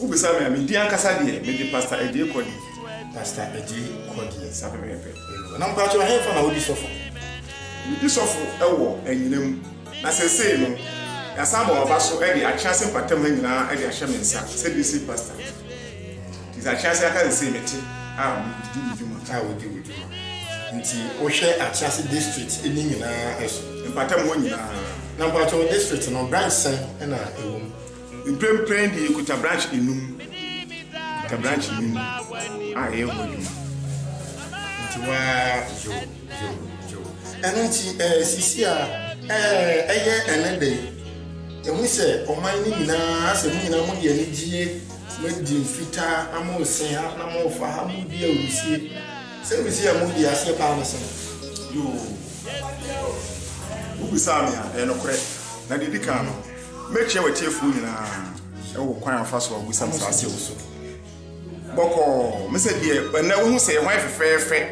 Wobisa me a, me din ankasa deɛ, mede Pastor Adjei Kɔdeɛ. Pastor Adjei Kɔdeɛ, saa pɛpɛɛpɛ. Ayiwa, na mpakyɛw, ɛhefa na wodi sɔfo? Medi sɔfo wɔ anyina mu, na seesei no, yɛasan ama wɔaba so de Akyease mpɔtam ha nyinaa de ahyɛ me nsa sɛ District Pastor. Nti sɛ Akyease aka seesei mete a, medi me dwuma. A wodi wo dwuma. Nti wohwɛ Akyease District no nyinaa so? Mpɔtam hɔ nyinaa. Na mpakyɛw, District no, branch sɛn na ɛwom? Mprempren de yekuta branch enum. Yekuta branch enum a ɛyɛ ho adwuma. Nti waa yo yo yo. Ɛno nti ɛɛ eh, sisi a ɛɛ eh, ɛyɛ ɛne de. Ehu sɛ ɔman no nyinaa asɛ mo nyinaa mo de anigyeɛ mo adi mfitaa na mo nse ha na mo fa ha mo di awusie. Sɛ awusie a mo di aseɛ paa no sɛn? Yoo. Wobisaa me a ɛyɛ nokorɛ. Na deɛ edi kan no. Mɛkyia w'atiefoɔ nyinaa wɔ kwan a wɔfa so a wɔbisa me saa asɛm so. Bɔkɔɔ, me sɛ deɛ ɛnɛ wohu sɛ hwan fɛfɛɛfɛ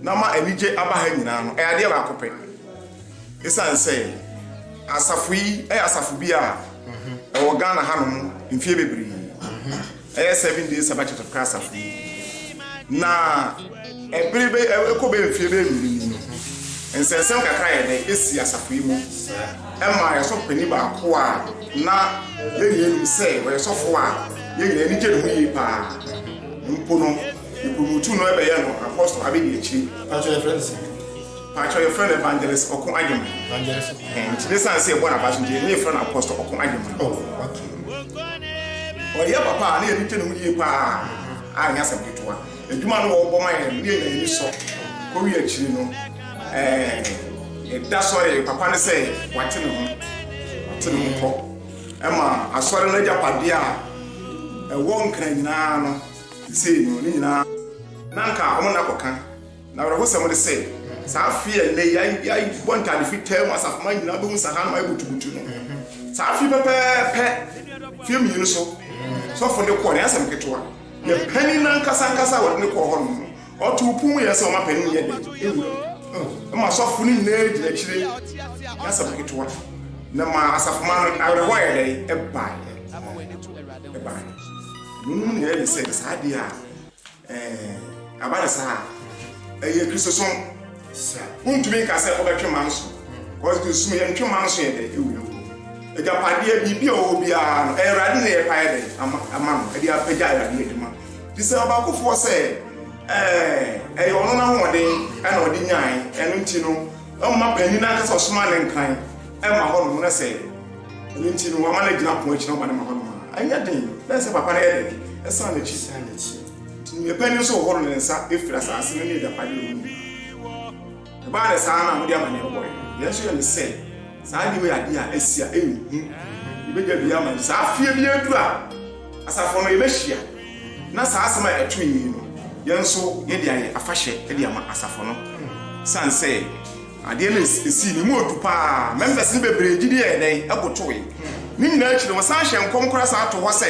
na ma anigye aba ha nyinaa no, ɛyɛ adeɛ baako pɛ. Ɛsiane sɛ asafo yi yɛ asafo bi a ɛwɔ Ghana hanom mfeɛ bebree. Ɛyɛ Seven Day Sabbath Church of Christ asafo yi na ɛbere bɛ ɛkɔ bɛ mfie bɛ mmienu ni no nsɛnsɛm kakra yɛ dɛ esi asafo yi mu ɛma yɛ sɔfo panyin baako a na yɛn nyinaa nim sɛ ɔyɛ sɔfo a yɛn nyinaa ani gye ne ho yie paa mpo no yɛpromotu no ɛbɛyɛ no apɔstol abedi akyiri. Pàtó yɛ fɛn si. Pakyɛw yɛfrɛ no evangelist ɔko agyeman. Evangelist ɔko. Ɛhɛn nti ne san sɛ yɛbɔ no abaso nti yɛn yɛfrɛ no apostle ɔko agyeman. Oh okay. Ɔyɛ papa a ne yɛde gye ne ho yie paa a ɛnyɛ asɛm ketewa. Adwuma no wɔbɔ ma yɛn no ne yɛnya ani sɔ. Kowie akyiri no ɛɛn yɛda sɔre papa no sɛ wate ne ho. Wate ne ho kɔ ɛma asɔre no agyapadeɛ a ɛwɔ nkran nyinaa no sesei no ne nyinaa. Na nka wɔn nna kɔka. N'awerɛhosɛm ne sɛ, saa afe a nnɛ yi yɛabɔ ntade fitaa mu asafomma nyinaa bɛhu sɛ ahanum ayɛ butubutu no, saa afe yi pɛpɛɛpɛ mfe mmienu so sɔfo no de kɔɔ no, ɛnyɛ asɛm ketewa. Yɛn panyin no ankasa ankasa a wɔde no kɔɔ hɔnom no, ɔtoo pon mu yɛɛ sɛ ɔma panyin no yɛ dɛn? Ewura mu. Ɛma asɔfo no nyinaa gyina akyiri. Ɛnyɛ asɛm ketewa. Na ɛma asafomma no awerɛhow yɛ dɛn? Ɛbae. Ɛbae. Nea onim nea ɛyɛ ne sɛ, saa de a, Ɛɛ, aba no saa a, ɛyɛ Kristosom. Sa. Wontumi nka sɛ wobɛtwe man so. Kɔsi Kristosom yɛ ntwe man so yɛ dɛ, ewu yɛ nkɔ. Agyapadeɛ biribi a ɔwɔ biara no, ɛyɛ Awurade na yɛpa yɛ dɛ ama ama no, ɛde apagya Awurade adwuma. Te sɛ ɔbaakofoɔ sɛ, ɛɛ, ɛyɛ ɔno n'ahoɔden ɛna ɔde nyae, ɛno nti no, ɔma panin no ankasa ɔsoma ne nkran ɛma hɔnom na sɛ. Ɛno nti no, wɔama no agyina pon akyi na wɔma no ma hɔnom ara. Ɛnyɛ den, na ɛnsɛ sɛ papa no yɛ dɛn? Ɛsan n'akyi. San n'akyi. Nti nea ɛpɛ ne nso hohoro ne nsa firi asase no ne agyapade a ɛwɔ mu nyinaa. Ɛbaa no saa na wɔde amanneɛ bɔe. Nea ɛnso yɛ ne sɛ, saa anim yɛ ade a asi a ɛyɛ hu. Yɛbɛgya biribi ama no. Saa fie biara duru a, asafo no, yɛbɛhyia. Na saa asɛm a ɛtoe yi no, yɛn nso yɛde ayɛ afahyɛ de ama asafo no. Ɛsiane sɛ. Adeɛ no sii ne mu ɔdu pa ara. Members no bebree gyidie yɛɛ dɛn? Ɛbotowee. Ne nyinaa akyi no, wɔsan hyɛɛ nkɔm koraa san too hɔ sɛ,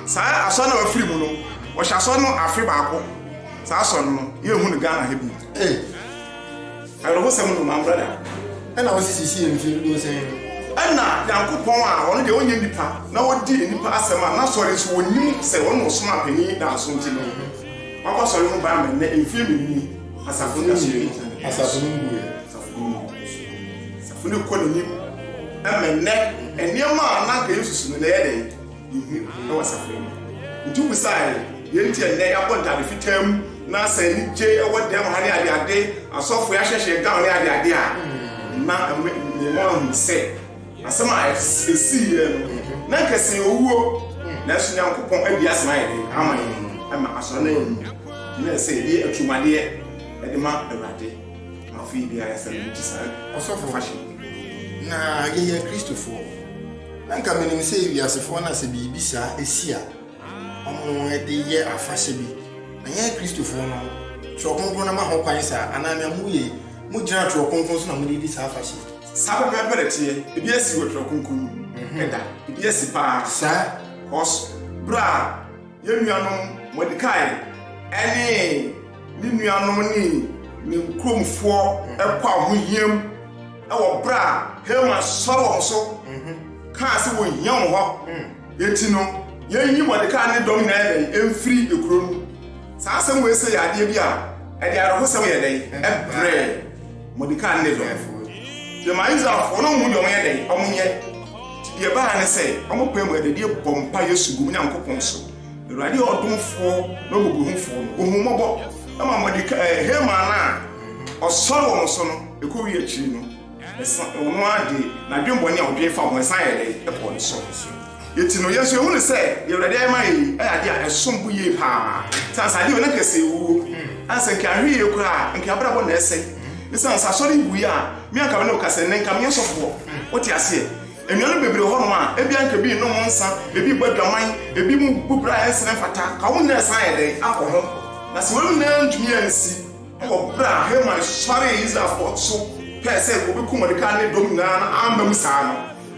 saa Asɔre no a wɔafiri mu no, wɔhyɛ Asɔre no afe baako. Saa Asɔre no, yɛnhu no Ghana ha bio. Ei! Awerɛhosɛm no, mammra da. Ɛnna wɔsi sisii mfe duosia yi no. Ɛnna Nyankopɔn a Ɔno deɛ Ɔnyɛ nipa na Ɔdi nnipa asɛm a N'Asɔre nso wɔnnim sɛ Ɔno na Ɔsomaa Panin Danso nti no, Waba Asɔre no ho bɛama nnɛ mfeɛ mmienu nie. Asafo no nwie no, asafo no nwie. Asafo no kɔ n'anim. Ɛmɛ nnɛ, nneɛma a na anka Yesu si no na ɛyɛ dɛ ehu ɛwɔ asafo no mu. Nti wobisae yɛn nti ɛnnɛ yɛabɔ ntade fitaa mu na sɛ anigye ɛwɔ dɛm ha ne ade ade, asɔfo yɛahyehyɛ gown ne ade ade a, na ɛma yɛn ho ahu sɛ Asɛm a ɛsiiɛ no, na anka ɛsɛ yɛn owuo, nanso Nyankopɔn adi asɛm ayɛ den ama yɛn, ɛma asɔre no ayɛ mu, na ɛsɛ yɛde aturumadeɛ de ma Awurade, na afei biara ɛsɛ no gye saa ɔsɔfo na yɛyɛ Kristofoɔ, na anka menim sɛ wiasefoɔ no a sɛ biribi saa si a, wɔde yɛ afahyɛ bi. Na yɛn Kristofo no, Twerɛ Kronkron no ma ho kwan saa? Anaa nea moyɛ yi, mogyina Twerɛ Kronkron so na mode redi saa afahyɛ yi? Saa pɛpɛɛpɛ na ɛteɛ. Ebi asi wɔ Twerɛ Kronkron no mu? Ɛda. Ebi asi paa. Saa? Kɔs, berɛ a yɛn nuanom Mordekai ne ne nuanom ne ne kuromfoɔ kɔ ahohiam wɔ berɛ a Haman sɔre wɔn so kaa sɛ wɔnhia wɔn hɔ, Enti no, yenyi Mordekai ne ne dɔm nyinaa yɛ dɛn mfiri kurow no mu? Saa asɛm wei sɛ yɛ adeɛ bi a ɛde awerɛhosɛm yɛ dɛn brɛ Mordekai ne ne dɔmfo? Deɛ ma Israelfoɔ no mmu deɛ wɔyɛ dɛn wɔyɛ, nti deɛ ɛbaeɛ ne sɛ wɔpae mu ɛda die bɔ mpaeɛ su gu Onyankopɔn so. Awurade yɛ ɔdomfoɔ ne ɔmɔborɔhunufoɔ no, ɔhu mmɔbɔ ma Mordekai, Haman no a ɔsɔre wɔn so no. Ɛkɔwie akyiri no. So ɔno ara de n'adwemmɔne a ɔdwen fa ho no san yɛɛ dɛn? Ɛkɔɔ ne soro. Enti no, yɛn nso yɛhu no sɛ deɛ Awurade ayɛ ma yɛn yi yɛ adeɛ a ɛsom bo yie pa ara. Sɛ ansa adeɛ wei na anka ɛsɛ ewuo, ansa anka yɛanhwɛ yie koraa a, anka yɛn abrabɔ na ɛsɛ. Esiane sɛ asɔre yi buiɛ a, me a anka me ne wo kasa yi, ɛnnɛ anka menyɛ sɔfoɔ. Wote aseɛ? Anuanom bebree wɔ hɔnom a, ebia anka ebi nnom nsã, ebi bɔ adwaman, ebi mu bu bra a ɛnsene mfata. Ka wɔn nyinaa san yɛ dɛn? Akɔ ho. Na sɛ wɔn nyinaa ntumi ansi. Wɔ bere a Haman suaree Israelfo so pɛe sɛ obekum Mordekai ne ne dɔm nyinaa na amma mu saa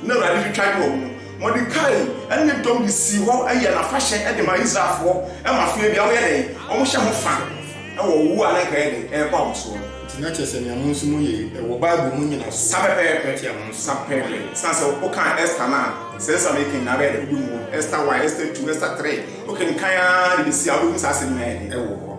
no, na Awurade retwitwa de wɔ ho. Mordekai ne ne dɔm de sii hɔ yɛɛ no afahyɛ de maa Israelfo ma afei de wɔyɛ dɛn? Wɔhyɛ ho fã wɔ ɔwo a na anka ɛyɛ den reba wɔn so no. Enti na kyerɛ sɛ nea mo nso moyɛ yi wɔ Bible mu nnyinaso Sa pɛpɛɛpɛ, tia mo nso sa mo pɛpɛɛpɛ. moyɛ. Esiane sɛ wokan Ester no a, sɛ nsɛm a merekã nyinaa bɛyɛ dɛ wubehu wɔ Ester I, Ester ii, Ester iii. Wokenkan ara de besi a, wubehu saa asɛm nyinaa yɛ dɛ wɔ hɔ.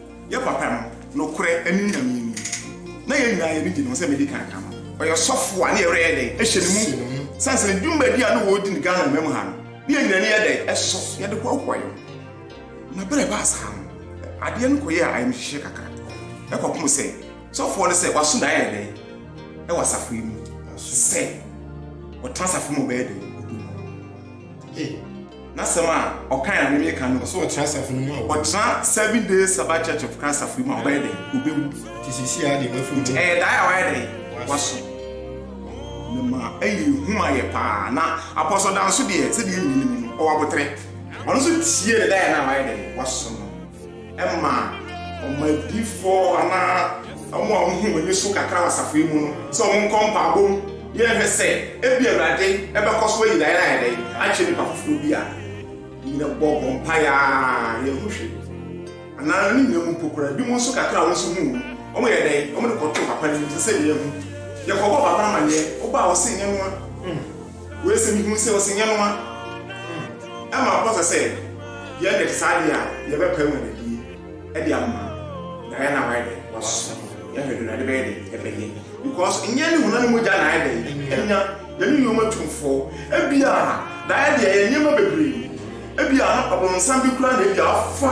Yɛ papa no, nokorɛ ɛne Nyame ni. Na yɛn nyinaa yɛni gye ne ho sɛ medi kan ka no, ɔyɛ sɔfo a ne yɛwerɛ yɛ dɛn hyɛ ne mu sane sɛ ne dwumadi a ne wɔredi no Ghana mma mu ha no, ne yɛn nyinaa ani yɛ dɛn ɛsɔ, yɛde hoahoa yɛn ho. Na berɛ a ɛbaa saa no, adeɛ no kɔyɛɛ ayamhyehyeɛ kakra, ɛkɔpem sɛ sɔfoɔ no sɛ waso n'ayɛ yɛ dɛn ɛwɔ asafo yi mu sɛ ɔtena asafo mu bɛyɛ dɛn? Hey, n'asɛm a ɔkan a mimi kan no. Ɔsɛ ɔtena asafo no mu a. Ɔtena seven days Sabbath Church of Christ asafo mu a ɔbɛyɛ dɛ obewu. Ti sisi a de wafi mu. Ɛyɛ daa a wayɛ dɛ waso. Ne ma ɛyɛ ehu ma yɛ paa na apɔsɔ dan so deɛ sɛdeɛ ɛnyini mu no ɔwɔ abotere. Ɔno nso tie ne daa yɛ na wayɛ dɛ waso no. ma wɔn adiyifoɔ anaa wɔn a wɔhu wɔn ani so kakra wɔ asafo yi mu no sɛ wɔnkɔ mpaabɔ mu na yɛnhwɛ sɛ ebia Awurade bɛkɔ so ayi Diana ayɛ dɛn akyerɛ nnipa foforɔ bi a nyina bɔ bɔ mpaeɛ a yɛnhu hwee anaa ne nyina mu mpo koraa bi mu nso kakra a wɔn nso hu wɔn yɛ dɛn wɔn de kɔto papa no mu sɛ sɛ yɛhu yɛkɔbɔ papa amanneɛ wobaa wɔ sɛ nyɛ noa Wei sɛ mehu sɛ ɔsɛ nyɛ noa ɛma ɔpɔsɛ sɛ yɛ dɛ te saa deɛ a yɛbɛ pae mu anadie ɛde ama na yɛ na wayɛ dɛ waso yɛ hwɛ do na ɛde bɛyɛ dɛ ɛbɛ yɛ because nyɛ ne hona ne mogya na ayɛ dɛ ɛnya yɛ ne nyoma tumfoɔ ebi a da ayɛ deɛ yɛ nyɛma bebree ebi a ɔbɔnsam bi kura na ebi a ɔfa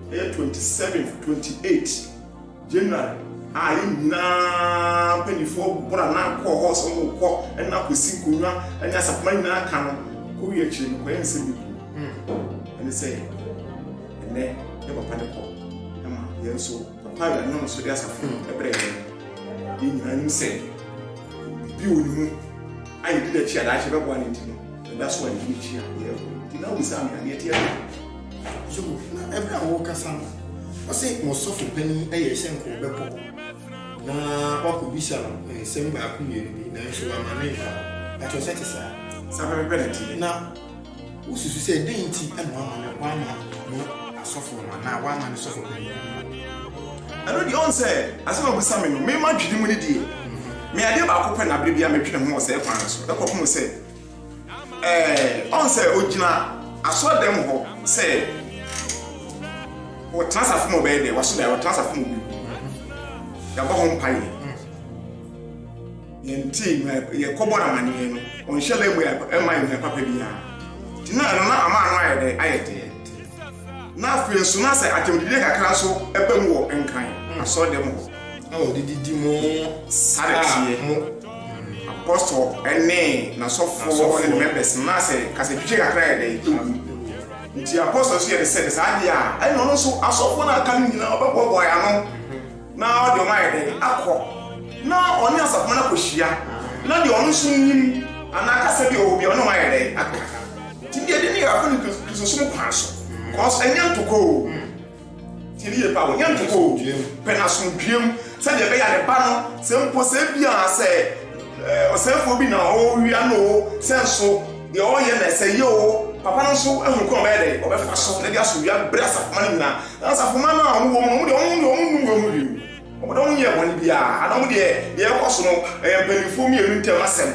Bɛyɛ twenty seventh, twenty eight January a yɛn nyinaa mpanimfoɔ boro a na akɔ hɔ sɛ wɔn kɔ ɛna akɔsi nkonnwa ɛne asafoma nyinaa ka no kɔ wie akyire no kɔyɛ nsɛm bi ɛne sɛ ɛnɛ yɛ papa ne kɔ ɛma yɛn nso papa a yɛanyɔn so de asafo no ɛbrɛ yɛn yɛn nyinaa nim sɛ biribi wɔ ne mu a yɛdi n'akyi a daakye bɛboa ne nti no ɛda so a yɛdi n'akyi a yɛyɛ nti na wobisa me adeɛ teɛ So na ɛberɛ a wɔrekasa no, ɔse mo sɔfo panin yɛ sɛ nka ɔbɛkɔ na wakɔbisa no nsɛm baako mmienu bi, nanso wama ne mfa hɔ. Ɛtɔ sɛ te saa. Saa pɛpɛpɛ na ɛteɛ. Na wosusu sɛ dɛn nti na wama no, wama mo asɔfo no anaa wama ne sɔfo panin no? Ɛno deɛ ɔn sɛ asɛm a ɔbisa me no, me m'adwene mu no deɛ, me adeɛ baako pɛ na berɛ biara medwene ho wɔ saa kwan no so, ɛkɔpem sɛ. ɛɛ ɔn sɛ ogyina asɔrɔdɛm hɔ sɛ wɔtena asafo mu ɔbɛyɛ dɛ waso dɛ wɔtena asafo mu bi yɛabɔ ho mpa yɛ yɛn ti yɛ kɔbɔ na ma nìyɛn no wɔn hyɛ lɛ mu yɛ ɛma yɛ nua papa bi ya gyina no na ama ano ayɛ dɛ ayɛ dɛ Na afei nso, na sɛ atɛmdidie kakra nso ba mu wɔ Nkran asɔrdan mu hɔ. Na wɔde didi mo sareteɛ mo. Apɔstɔ ne n'asɔfoɔ ne ne members no, na sɛ kasatwitwe kakra yɛ dɛ ɛwu. Nti apɔstɔ nso yɛ ne sɛ, sɛ saa deɛ a, ɛnna ɔno nso asɔfoɔ no a aka no nyinaa ɔbɛboaboa yɛn ano. Na ɔde wɔn ayɛ dɛn? Akɔ na ɔne asafo no akɔhyia, na deɛ ɔno nso nim anaa kasa bi wɔ hɔ bi a ɔne wɔn ayɛ dɛn? Aka. Nti deɛ ɛde ne yɛakɔ ne Kristosom kwan so, kɔs ɛnyɛ ntokɔ o, tie ne yie paa o, ɛnyɛ ntokɔ o, pɛ n'asomdwoeɛm sɛdeɛ ɛbɛyɛ a ne ba no, sɛ mpo sɛ ebia sɛ ɔsɛefoɔ bi na ɔrewia no o, sɛ nso. Deɛ ɔreyɛ no ɛsɛ yie oo, papa no nso ahunu kwan a ɔbɛyɛ dɛn, ɔbɛfa so na de aso wia bere asafomma no nyinaa. Na asafomma no a wɔwɔ mu no, wɔn deɛ wɔn deɛ wɔn nnu wɔn ho bio, wɔn deɛ wɔn nyɛɛ bɔne biara, ana wɔn deɛ deɛ ɛrekɔ so no ɛyɛ mpanimfoɔ mmienu ntam asɛm,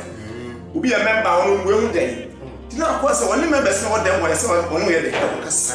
obi yɛ mɛmba a wɔn mmu wɔn ho dɛn, nti na akɔyɛ sɛ wɔne mɛmbɛs no wɔ dɛm wɔ ɛsɛ wɔn yɛ dɛn, wɔn kasa.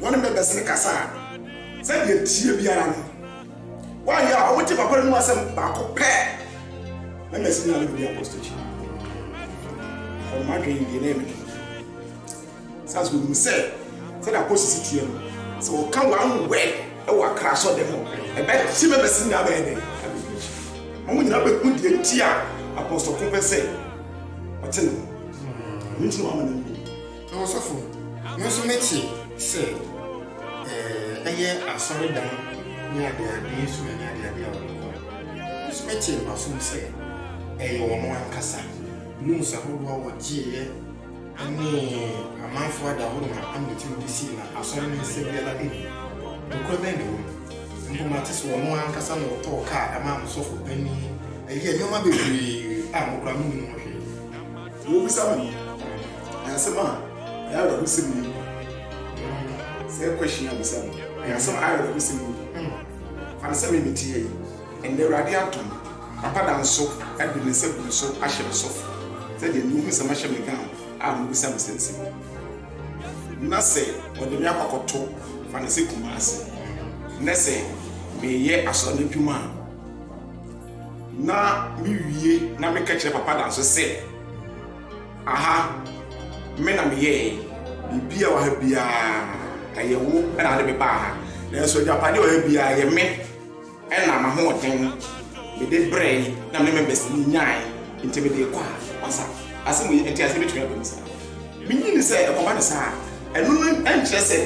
Wɔne me bɛsene kasa a, sɛdeɛ teɛ biara no, wɔayɛ a wɔgye papa no mu asɛm baako pɛ na masi no anadwo bi apostokyi. Wɔn adwene deɛ na ɛmɛ no. Saa so wɔnim sɛ sɛdeɛ apostokyi teɛ no, sɛ wɔka wɔn wɛ wɔ akra sɔ dɛm no, ɛbɛkye me bɛsi no abɛyɛ dɛ. Wɔn nyinaa bɛhu deɛ nti a apostokyi pɛ sɛ ɔte ne ho. Ɛno nti na wɔama no Na ɔsɔfo no nso ne te sɛ ɛyɛ asɔredan ne adeade nso ne adeade a wɔde kɔ nso ne te mfasom sɛ ɛyɛ wɔn ankasa loans ahodoɔ a wɔgyeeɛ ne amanfoɔ ada ahodoɔ ma anotiri de sii na asɔre no nsɛ biara ɛni nokorɛ bɛn ne wɔm mpo mate sɛ wɔn ankasa na wɔtɔɔ kaa ɛma ɔsɔfo panin ɛyɛ nneɛma bebree a mokora mo nim ho hwee Deɛ ɔbisa me no, ɛyɛ asɛm a ɛyɛ awerɛhosɛm yie. Sɛ question a ɔbisa me, ɛyɛ asɛm a ɛyɛ awerɛhosɛm yie. Fa no sɛ me mete ha yi, ɛnnɛ Awurade adom, Papa da nso de ne nsa gu me so ahyɛ me so sɛdeɛ nea ɔhu nsɛm ahyɛ me gown a mobisa me saa nsɛm yi. Na sɛ ɔde me akɔ akɔto, fa no sɛ Kumasi, na sɛ mereyɛ asɔre no adwuma a, Na me wie na me kɛkyerɛ papa danso sɛ aha me na me yɛɛ biribi a waha biara ɛyɛ wo ɛna ade me baa ha nanso agyapadeɛ ɔha biara yɛ me ɛna ma ho ɔden me de brɛ na me me bɛsi me nyae nti me de kɔ a asa ase mu yɛ nti ase betumi abɛm saa me nyi ne sɛ ɛkɔba ne saa ɛno no ɛnkyerɛ sɛ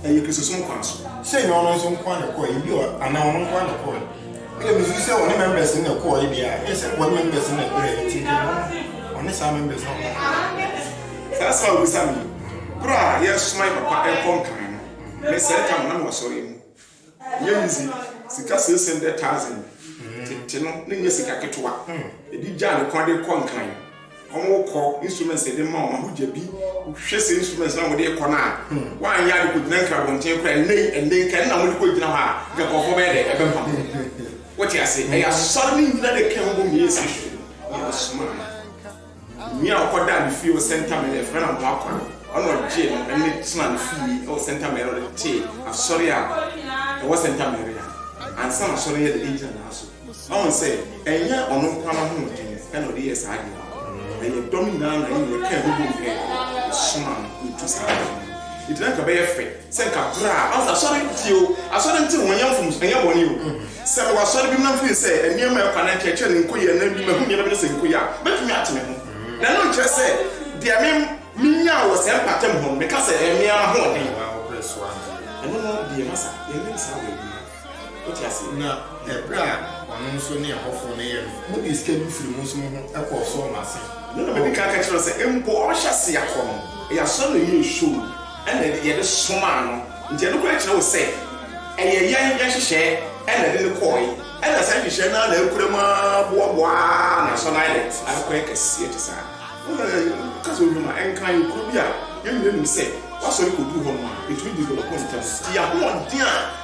ɛyɛ kristosom kwan so sɛ nyɛ ɔno nso nko a na ɛkɔɛ ebi ɔ anaa ɔno nko a na ɛkɔɛ Ɛna misusu sɛ ɔne members no na ɛkɔɔe deɛ a, ɛyɛ sɛ wɔne members no na ɛbrɛɛ nti nka ɛbɔ ɔne saa members no na ɔbɔ. Saa asɛm a wobisa me yi, berɛ a yɛresoma yɛn papa ɛrekɔ Nkan no, me sɛɛ ka no na mewɔ asɔre mu. Ɛnyɛ me dze, sika six hundred thousand tete no, na ɛnyɛ sika ketewa. Ɛde gyaa me kwan de rekɔ Nkan. Wɔkɔ instruments de ma wɔn ahodyabi. Hwɛ sɛ instruments na wɔde kɔ no a wɔanyɛ ade kɔgyina nkra abɔnten koraa ɛnɛ yi ɛnɛ nka ɛna wɔde kɔgyina hɔ a nka nkurɔfoɔ bɛyɛ dɛ ɛbɛmpa ho wote ase ɛyɛ asɔre no nyina de ka ho bɔ meyɛ si so yɛ asoma nua a ɔkɔda ne fie wɔ sɛnta mɛrɛ ɛfrɛ na mo akɔ no ɔna ɔgye no ɛne tena ne fie ɛwɔ sɛnta mɛrɛ ɔde te asɔre a ɛwɔ sɛnta mɛrɛ a ansa na asɔre yɛ de gyina n'aso Wahu sɛ ɛnyɛ ɔno nko ara n'ahoɔden na ɔde yɛɛ saa adeɛ no. Ɛyɛ dɔm nyinaa na yɛn nyinaa kaa mu boom pɛɛ na ɛsomaa no na ɔtuu saa adeɛ no. Enti na anka ɛbɛyɛ fɛ sɛ anka berɛ a, ɔsɛ asɔre tie o, asɔre nte ho, ɛnyɛ mfomso, ɛnyɛ bɔne o. Sɛ mewɔ asɔre bi mu na mefiri sɛ nneɛma a ɛkɔ anaa nkyerɛkyerɛ no nkɔ yie anaa bi mahu nneɛma bi na sɛ nkɔ yie a, mɛtumi ate me ho. Na ɛno nkyerɛ sɛ deɛ me menyaa wɔ saa mpaatam hɔ no, meka sɛ ɛyɛ me ara m'ahoɔden. Ɛno no deɛ masa, yɛnyɛ no saa wɔ adwuma. Wote ase? Na ɛberɛ a ɔno nso ne ɛhɔfoɔ no yɛ no, modii sika bi firii mo nso mo ho kɔɔ so wɔn ase. Ɛno na madi kan ka kyerɛɛ no sɛ, mpo ɔbɛhyɛ aseɛ akɔ no, ɛyɛ asɔre na yɛyɛɛ show na yɛde somaa no, nti ɛno koraa kyerɛ wo sɛ ɛyɛ yɛn yɛn nhyehyɛɛ na ɛde no kɔɔe, ɛna saa nhyehyɛɛ no ara na akura mu ara boaboaa Nanson Island ara kɔyɛ kɛseɛ te saa. Wohwɛ a, woka sɛ Ohwam a, ɛnka yɛn kuro bi a yɛn nyinaa nim sɛ w'asɔre kɔduru hɔ no a, ɛtumi develop ntɛm, nti yɛn ahoɔden a.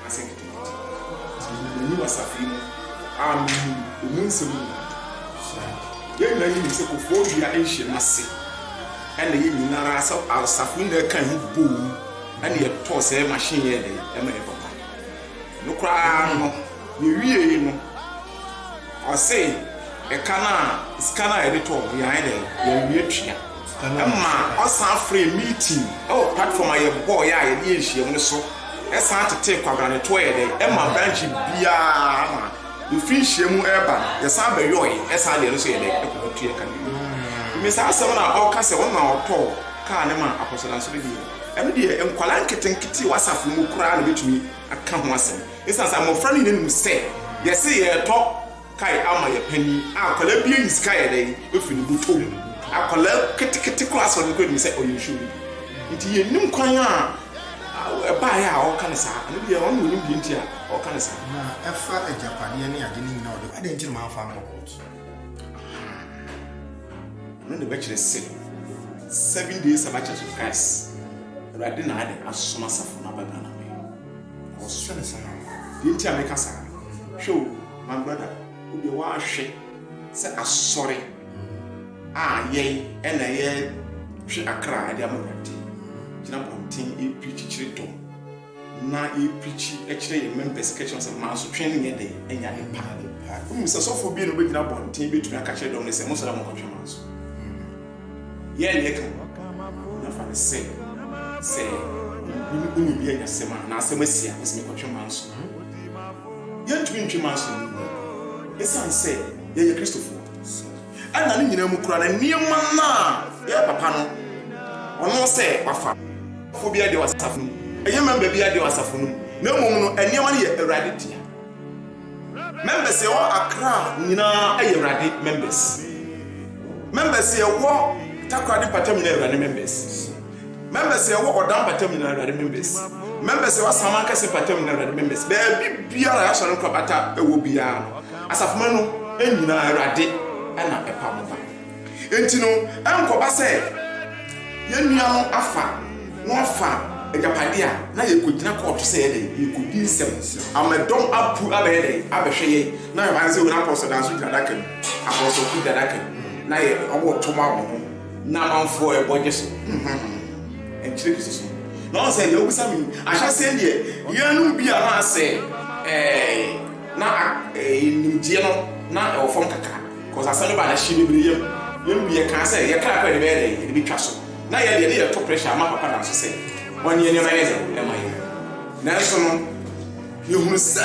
anaasɛ nketenkete. Minim me nyi wɔ saafee mu a minim emu nsɛm nyinaa. Yɛn nyinaa nim sɛ kofɔɔ dua nhyiam ase na yɛn nyinaa ara sɛ asafo nyinaa kan ho boom na yɛtɔɔ sɛɛ machine yɛɛ dɛn ma ɛyɛ papa. Ɛno koraa no, yɛwiee no. Ɔse ɛka no a sika no a yɛde tɔɔ no yɛanyɛ dɛn yɛanwia tua ɛma ɔsan frɛɛ meeting ɛwɔ platform a yɛbɔɔeɛ a yɛde yɛ nhyiam no so ɛsan tetee kwabena no toɔ yɛ dɛn ɛma branch biara ama yɛfiri nhyiam ɛreba no yɛsan bɛyɔɔe ɛsan deɛ no so yɛ dɛn ɛkɔ hɔ tua ka no wie me saa asɛm no a ɔka sɛ ɔno na ɔtɔɔ kaa no ma Apostle Danso no deɛ ɛno deɛ nkwadaa nketenkete wɔ asafo mu koraa na bɛtumi aka ho asɛm Esiane sɛ mmofra no nyinaa nim sɛ yɛse yɛretɔ kae ama yɛn panyin a, akwadaa biara nyi sika yɛ dɛn? Ofi ne botom. Akwadaa ketekete koraa sɛ ɔno koraa nim sɛ ɔyɛ nsu bi. Nti yennim kwan a ɛbaeɛ a ɔreka no saa. Ɛno deɛ ɔno na onim deɛ nti a ɔreka no saa. Na ɛfa agyapadeɛ ne ade no nyinaa a ɔde kɔ, adɛn nti na mamfa ankɔ kɔɔto? Aha. Ɛno na ɛbɛkyerɛ sɛ Seven Day Sabbath Church of Christ, Awurade na ayɛ dɛn? Asoma asafo no aba Ghana. Ɔhwɛ no saa. Deɛ nti a meka saa no, hwɛ o, my brother, wo deɛ woahwɛ sɛ asɔre a yɛn ɛna yɛtwe akra de ama Awurade gyina abɔnten ɛreprikyi kyerɛ dɔ na yɛprikyi kyerɛ yɛn members ka kyerɛ sɛ mansotwe no nyɛ dɛ ɛnyɛ ade pa. Wonim sɛ sɔfo bi na ɔbɛgyina abɔnten bɛtumi aka kyerɛ dɔm no sɛ monsɔre a monkɔtwe manso. Yɛɛ nea ɛka ho na fa no sɛ, sɛ obi ne obi anya asɛm a, anaa asɛm asi a, ɔse mekɔtwe manso. Yɛntumi ntwe manso ne nni. Esiane sɛ yɛyɛ Kristofoɔ ɛna ne nyinaa mu koraa no, nneɛma no a yɛyɛ papa no, ɔno sɛ wafa fo biara deɛ wɔ asafo no mu, ɛnyɛ mɛmba biara deɛ wɔ asafo no mu, na mmom no nneɛma no yɛ Awurade dea. Members yɛwɔ Accra nyinaa yɛ awurade members members yɛwɔ Takoradi mpatam nyinaa awurade members members yɛwɔ Ɔda mpatam nyinaa awurade members members yɛwɔ Asaman kɛse mpatam nyinaa awurade members baabi biara yɛasɔre nkorabata ɛwɔ biara no asafomanu nyinaa awurade ɛna ɛpa mo ba Enti no, ɛrenkɔba sɛ yɛn nua no afa na ɔfa agyapade a na yɛrekɔgyina kɔɔto sɛ yɛyɛ dɛn? Yɛrekɔdi nsɛm ama dɔm apu abɛyɛ dɛn? Abɛhwɛ yɛn. Na ayɛ sɛ wɔn apɔsɔ da nso gyina adaka mu, apɔsɔfo gyina adaka mu, na yɛ, wɔreto ma wɔn ho, na amanfoɔ rebɔ gye so. Ɛnkyerɛ Kristo som. Na ɔn sɛ, deɛ wobisa me yi, ahyɛaseɛ no deɛ, yɛnom bi a na sɛ ɛɛ, na ɛɛ, nimdeɛ no na ɛwɔ fam kakra. Cause asɛm no baa no hye bebree yam. Yɛn mu bi yɛkaa sɛ yɛn kra koraa yɛde bɛyɛ dɛn? Yɛde betwa so. Na yɛn de yɛde yɛn to pressure ma Papa Nana so sɛ ɔnyɛ nneɛma yɛ dɛn? Ɛma yɛn. Nanso no, yɛhunu sɛ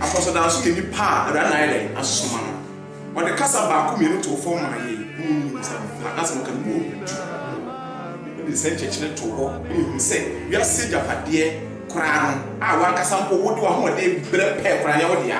Apɔsɔdan nso yɛ nipa a Awurade na ayɛ dɛn? Asoma no. Ɔde kasa baako mmienu too fam maa yɛn. Mo mu binom sɛ mo pɛ a, na sɛ moka no mu ɔha du. Ɔde saa nkyerɛkyerɛ too hɔ ma yɛhunu sɛ wiase agyapadeɛ koraa no a w'ankasa mpo wode w'ahoɔden brɛ pɛɛ koraa nyɛ wo dea.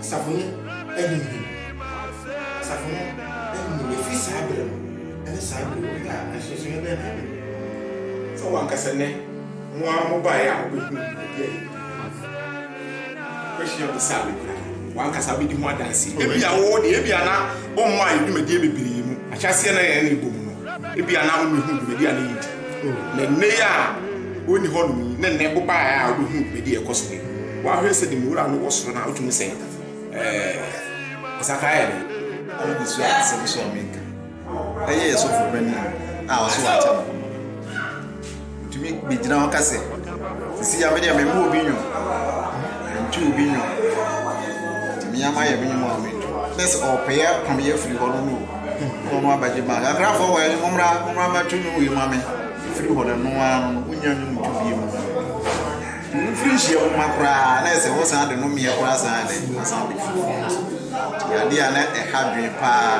Asafo no ahinhim, asafo no ahinhim efi saa bere no ne saa bere yi. Wohwɛ a, nsonsonoe bɛn na aba mu? Sɛ wo ankasa nnɛ mo ara mobae a wobehuu biribi a yedi ho adanse. Wobɛhwehwɛ bisa a wokura no, w'ankasa wubedi ho adanse. Ebia wo de, ebia na wommae dwumadi bebree mu. Ahyɛaseɛ na yɛn ani bɔ mu no, ebia na wummehuu dwumadi a na yedi. Na nnɛyi a wonni hɔnom yi ne nnɛ wobae a wubehuu dwumadi a ɛkɔ so nnɛ yi. Wahwɛ sɛ nim Wura no wɔ soro no a, wotumi sɛ, Ɛɛ, Ɔsakrae yɛ dɛn? Ɔno de suaa asɛm so a menka bɛyɛ yɛn sɔfo panyin a ɔso wɔ akyɛ no ho no. Otumi begyina hɔ ka sɛ, Sisi ya me deɛ memmɔ obi nnwom, mentwe obi nnwom, tumi ama yɛ me nnwom a mentu. Bɛyɛ sɛ ɔpɛ yɛ pam yɛ firi hɔ no no na ɔno abɛgye bank. Akrafoɔ wɔ yɛn mommra, mommra mɛto nnwom wei ma me. Ɛfiri hɔ no, ɛno ara no, wonnya nnwom nto bio mu. Mfiri nhyia wo mma koraa na ɛsɛ wɔ san de no meɛ koraa saa dɛ na san de firi fie nso yɛ adeɛ a na ɛha dwen paa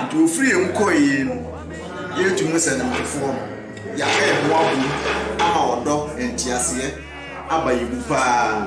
nti ofiri yɛ mu kɔ yie no yɛ tu mu sɛ ne mmefoɔ no yɛaka yɛ ho abom ama ɔdɔ nteaseɛ aba yɛ mu paa.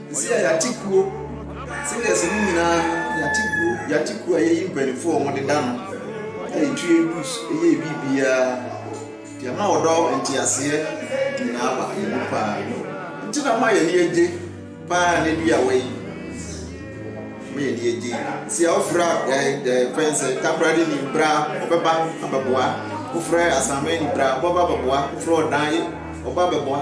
Sisi a yɛate kuo singers no nyinaa yɛate kuo yɛate kuo a yɛyi mpanyinfoɔ a wɔde da no a yɛtu yɛn dues yɛ biribiara nti ama ɔdɔ nteaseɛ nyinaa ba yɛn mu paa nti na ma yɛn ani agye paa na bi a wɔyi ma yɛn ani agye si a wofra fɛn sɛ takoradi ni bra ɔbɛba abɛboa wofra asame ni bra ɔbɛba abɛboa wofra ɔdan ɔba abɛboa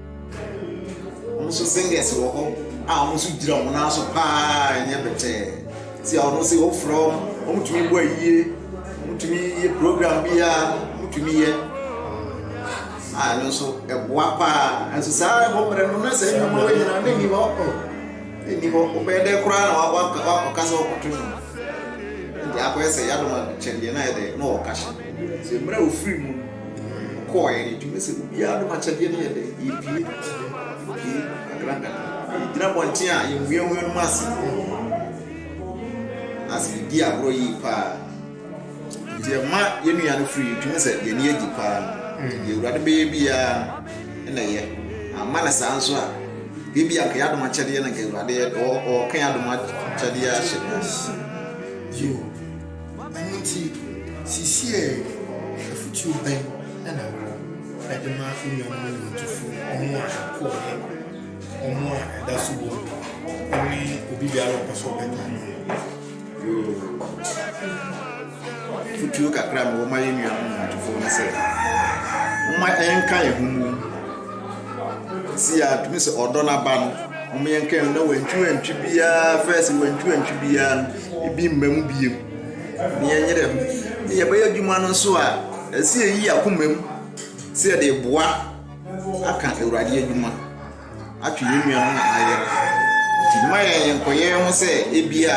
Wɔn nso singers wɔ hɔ a wɔn nso gyina wɔn nan so paa ɛnyɛ bɛtɛɛ. Ti a wɔn sɛ wɔfrɛ wɔn, wɔn tumi bɔ ayie, wɔn tumi yɛ program biara, wɔn tumi yɛ a ɛno nso ɛboa paa. Nso saa ɛbɔ mmerɛ no na saa nnwuma wɔ nyinaa ne ni hɔ ɔ ne ni hɔ ɔbɛyɛ dɛ koraa na wakɔ wakɔka sɛ ɔkɔto no. Nti akɔyɛ sɛ yadoma kyɛdeɛ na yɛ dɛ na ɔka hyɛ. Sɛ mmerɛ ofiri mu no. Ɔkɔɔeɛ no, ɛtumi sɛ obiara nom akyɛdeɛ no yɛ dɛ, yɛpue, yɛpue nkakrankakra, yɛgyina bɔnten a yɛnweawea nom ase, na sɛ yɛdi agorɔ yie paa. Nti ɛma yɛn nua no firi yɛtumi sɛ yɛn ani agye paa no, mm. deɛ awurade bɛyɛ biara no na ɛyɛ, amma no saa nso a ebi anka yɛ adom akyɛdeɛ no nka awurade ɔɔka yɛ adom akyɛdeɛ ahyɛ Ɛno nti, seesei afotuo bɛn na wowɔ de ma anuanom nnwontofo, wɔn a ɛkɔeɛ, wɔn a ɛda so wɔ mu, ne obi biara a ɔpɛ sɛ ɔbɛka ne ho? Yoo, afotuo kakra a mewɔ ma yɛn nuanom nnwontofo ne sɛ, momma yɛnka yɛn ho mmom. Si a tumi sɛ ɔdɔ no aba no, momma yɛnka yɛn ho na wantwiwantwi biara, first wantwiwantwi biara no, ebi mma mu bio, na yɛnyere ho, na yɛbɛyɛ adwuma no nso a, ɛsɛ yɛyi akoma mu sɛ yɛde reboa aka Awurade adwuma, atwe yɛn nuanom a wɔayera. Nti mma yɛnkɔyɛ ho sɛ ebia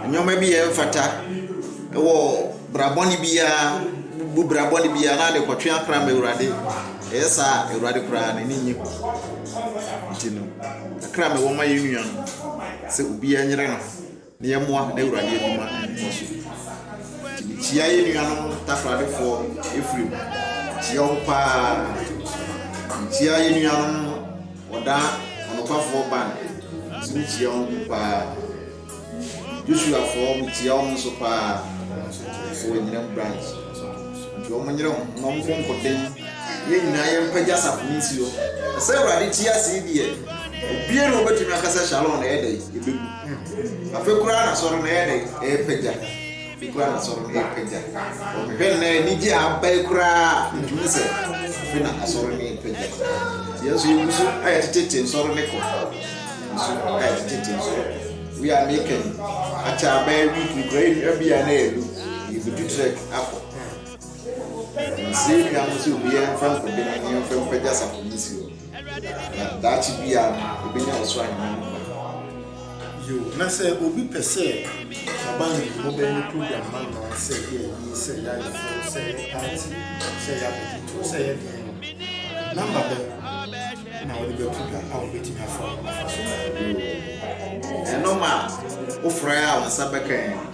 nneɛma bi a ɛmfata wɔ bra bɔne biara bu bra bɔne biara na ade kɔtwe akra ma Awurade. Ɛyɛ saa a, Awurade koraa n'ani nnye ho. Nti no, kakra a mewɔ ma yɛn nuanom sɛ obiara nyere ne ho. Na yɛmmoa n'Awurade adwuma nkɔ so. Nti mekyia yɛn nuanom Takoradefoɔ Ephraim, mekyia wo paa. Mekyia yɛn nuanom Ɔda Ɔnokwafoɔ Ban, nso mekyia wɔn paa. Joshuafoɔ mekyia wɔn nso paa, ɛwɔ Anyinam branch. Nti wɔn nyere wɔn na wɔn nkonkoden. Yɛn nyinaa yɛn mpagya sapɔ ne nsuo. Ɛsɛ Awurade ti ase deɛ, obiara na wɔbɛtumi akasa Shalom na ɛyɛ dɛ, yɛbɛgu. Afei koraa n'asɔre no yɛ dɛ ɛrepagya. Afei koraa n'asɔre no ɛrepagya. Wɔhwɛ nnɛ anigye a aba yi koraa ntumi sɛ afei na asɔre no ɛrepagya. Nti yɛn nso yɛn nso ayɛ tete nsɔre no kɔ. Nso ayɛ tete nsɔre. Wei a meka yi akyɛ abɛɛ week nkura yi nua bi a na yɛlu yɛbɛtu trek akɔ. Nse nua mo sɛ obi yɛn fɛn kɔdɛm yɛn fɛn pagya sapɔ ne si hɔ. Na daakye biara no, yebenya ɔsoro ahenni no mu adwuma. Yiw, na sɛ obi pɛ sɛ ɔba yɛn mmobɛn ne program no ano ara sɛ yɛ ayi, sɛ yɛ ayeforo, sɛ yɛ party, sɛ yɛ abodwotow, sɛ yɛ deɛn no, number bɛn na wode bɛto dwa a wubetumi afa ho afa so? Yiw, ɛno ma wofrɛ a wo nsa bɛka yɛn.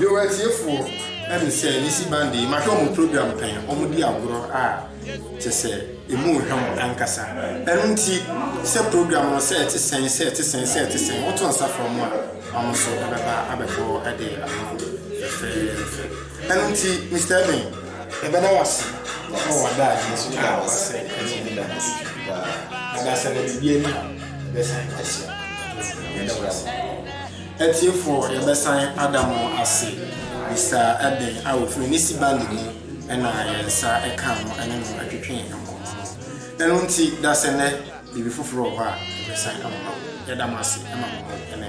Yoo atiefoɔ ɛne sɛ mesi bande yi mahwɛ ɔmo program pɛn ɔmo di agorɔ a kyɛsɛ emu hwɛ mo ankasa ɛno nti sɛ program no sɛ ɛte sɛn sɛ ɛte sɛn sɛ ɛte sɛn woto nsa frɛ ɔmo a ɔmo nso ɛbɛba abɛbɔ ɛde ama wo fɛfɛɛfɛ ɛno nti Mister Eben yɛbɛda wo ase ɛwɔ w'ada adi nso yɛda wo ase ɛne ne da ase paa na da sɛ na biribi ani bɛsan ahyɛ yɛda wo ase Atiefoɔ yɛbɛsan ada mo ase bisa ɛdɛn a ofiri ne si bande mu na yɛn nsa kaa no ne no twetwee nkɔmmɔ no ɛno nti dasɛ nɛ biribi foforɔ wɔ hɔ a yɛbɛsan ama wo yɛda mo ase ma mo ho ne